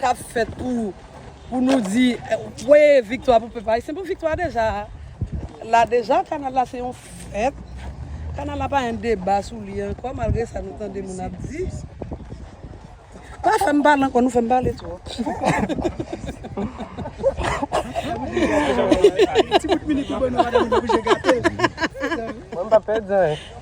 kap fèt pou pou nou di wé viktwa pou pèp ayisyen bon viktwa deja la deja kanal la se yon fèt kanal la pa gen deba sou li ankò malgré sa nou tande moun ap di pa fèm pale ankò nou fèm pale twòp ti bout minit ou ban nou madame mwen pa pèdi anyen.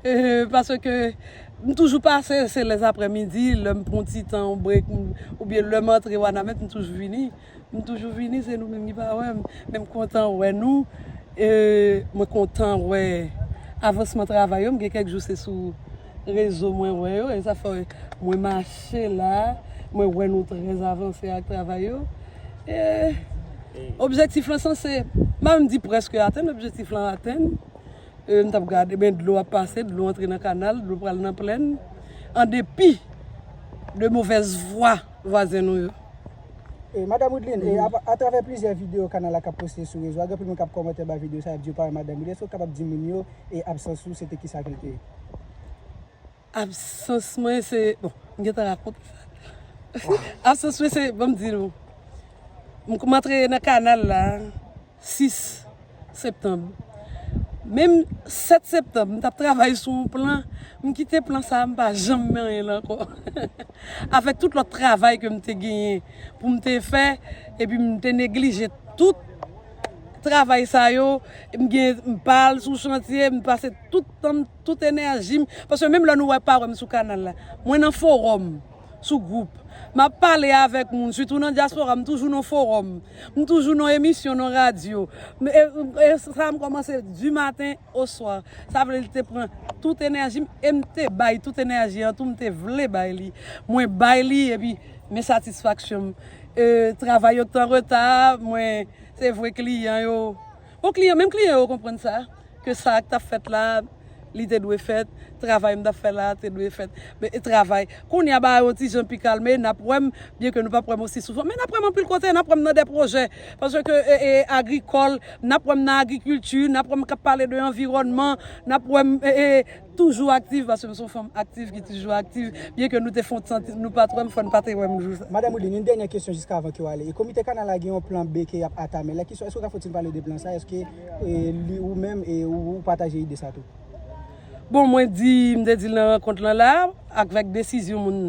Paske m toujou pase se lè aprè midi lè m pran ti tan yon break oubyen lè m antre wanament m toujou vini m toujou vini se nou menm ki pa wè m men m kontan wè nou mwen kontan wè avansman travay yo m gen kèk jou se sou rezo mwen wè yo e sa fè mwen mache la mwen wè nou trè avanse ak travay yo e objektif lan sanse m pa menm di prèske atenn objektif lan atenn. E m t ap gade, men dlo ap pase, dlo antre nan kanal, dlo pral nan plenn. An depi de movèz fwa vwazen nou yo. E Madam Wideline, e a travè plizyè videyo kanal la k ap poste sou rezo a, gen anpil moun k ap kòmante anba videyo sa y ap di yo pa wè Madam Wideline. Èske ou kapab di moun yo e absans ou se te kisa ke l te ye? Absans mwen se, bon, m gentan rakonte sa deja. Absans mwen se, ban m di nou, m antre nan kanal la. 6 septanb Menm 7 septanb m tap travay sou yon plan m kite plan sa m pa janm manyen l ankò avèk tout lòt travay ke m te genyen pou m te fè epi m te neglije tout travay sa yo m gen m pa al sou chantye m pase tout tan m tout enèji m paske menm lè nou wè pa wè m sou kanal la mwen nan fowòm. sou gwoup. M ap pale avèk moun, sitou nan dyaspora, m toujou nan fowòm, m toujou nan emisyon nan radyo. E sa m kòmanse di maten o swa. Sa vle li te pran tout enèji m e m te bay tout enèji an tou, m te vle bay li. Mwen bay li epi men satisfaksyon m. Travay yo t anreta, mwen se vre kliyan yo. Bon kliyan, menm kliyan yo konprann sa, ke sa a k t ap fèt la a, li te dwe fèt, travay m t ap fè la a te dwe fèt, e travay. Kounye a bagay yo ti jan pi kalme, n ap wè m, byen ke nou p ap wè m osi souvan, men n ap wè m anpil kote, n ap wè m nan dè pwojè, paske e agrikòl, n ap wè m nan agrikilti, n ap wè m k ap pale de anviwònman, n ap wè m e. Toujou aktiv paske m son fanm aktiv ki toujou aktiv byen ke nou te fon tan nou pat wèm fòn pa te wèm jou sa. Madam Wideline, yon dènyè kesyon jiska avan ke w ale. Komite kanal la gen yon plan B ke yap atame la kesyon eske w ka fon ti pale de plan sa eske li ou menm e ou pataje ide sa tou? Bon mwen di m te di l nan rankont lan la akvèk desizyon moun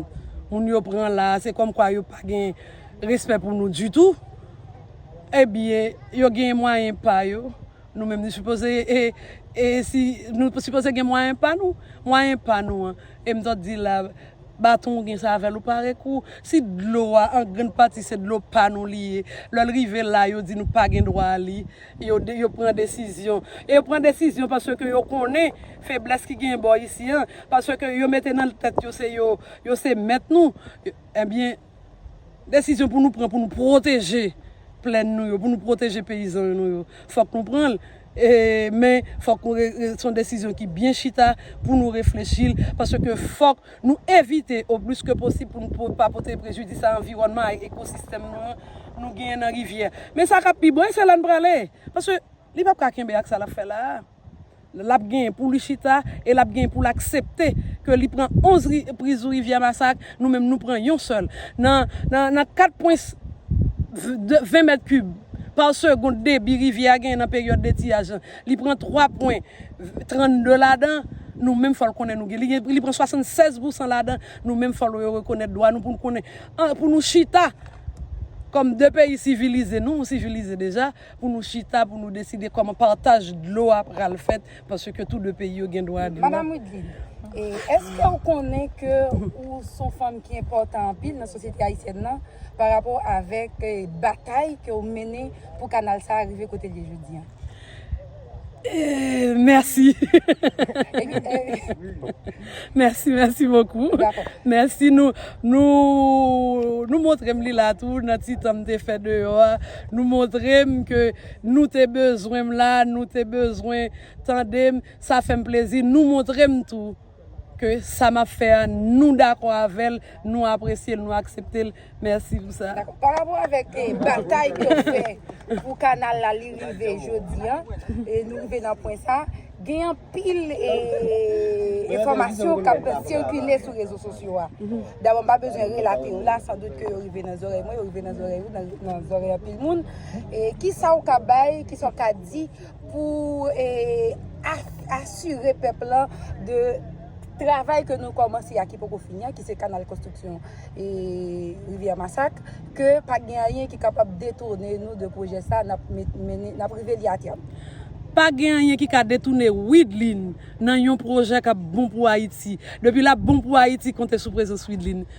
moun yo pran la se kòm kwa yo pa gen respè pou nou ditou ebyen yo gen mwayen pa yo Nou menm nou sipoze e si nou sipoze gen mwayen pa nou, mwayen pa nou an e m t ap di la baton ou gen sa avè l ou pare kou si dlo a an grann pati se dlo pa nou li ye lè l rive la yo di nou pa gen dwa a li yo yo pran desizyon e yo pran desizyon paske yo konnen feblès ki genyen bò isi an paske yo mete nan tèt yo se yo yo se mèt nou ebyen. Desizyon pou nou pran pou nou pwoteje plèn nou yo, pou nou pwoteje peyizan nou yo, fòk nou pran l. E men fòk nou se yon desizyon ki byen chita pou nou reflechi l. Paske fòk nou evite o plis ke posib pou nou pa pote prejidis a anviwònman a, a ekosistèm nou an nou genyen nan rivyè. Men sa k ap pi bon e se la n prale. Paske li p ap ka kenbe ak sa l ap fè la a. L ap genyen pou li chita e l ap genyen pou l aksepte ke li pran 11 repriz Rivyè Masak, nou menm nou pran yon sèl. Nan 4 pwens 20 mèt kib pa segond debi rivyè a genyen nan peryòd detiyaj lan, li pran 3 pwen 32 ladan, nou menm fò l konnen nou gen. Li pran 76 pousan ladan, nou menm fò l yo rekonèt dwa nou pou nou konnen, pou nou chita kòm 2 peyi sivilize, nou sivilize deja, pou nou chita pou nou deside kòman pataj dlo a pral fèt paske tou 2 peyi yo gen dwa a dlo. Madam Wideline, e eske ou konnen ke ou son fanm ki enpòtan anpil nan sosyete ayisyèn nan pa rapò avèk batay ke ou mennen pou kanal sa a rive kote li ye jodi an? Eee mèsi Mèsi mèsi bokou Mèsi nou Nou montrem li la tou nan ti tan m te fè deyò a Nou montrem ke nou te bezwen m la Nou te bezwen tandem Sa fèm plezi nou montrem tou ke sa map fè a nou dakò avèl nou apresyel nou akseptel mèsi pou sa. Dakò pa rapò avèk batay ke ou fè pou kanal la li rive jodi an e nou rive nan pwen sa gen anpil enfòmasyon kap sikile sou rezo sosyo a dabò mpa bezwen relate yo la san dout ke yo rive nan zòrèy mwen yo rive nan zòrèy ou nan zòrèy anpil moun e kisa ou ka bay kisa ou ka di pou asire pèp lan de travay ke nou kòmanse a ki poko fini a ki se kanal konstriksyon rivyè masak ke pa gen anyen ki kapab detoune nou de pwojè sa nap mennen nap rive li a tèm. Pa gen anyen ki ka detoune Wideline nan yon pwojè kap bon pou Ayiti depi lap bon pou Ayiti konte sou prezans Wideline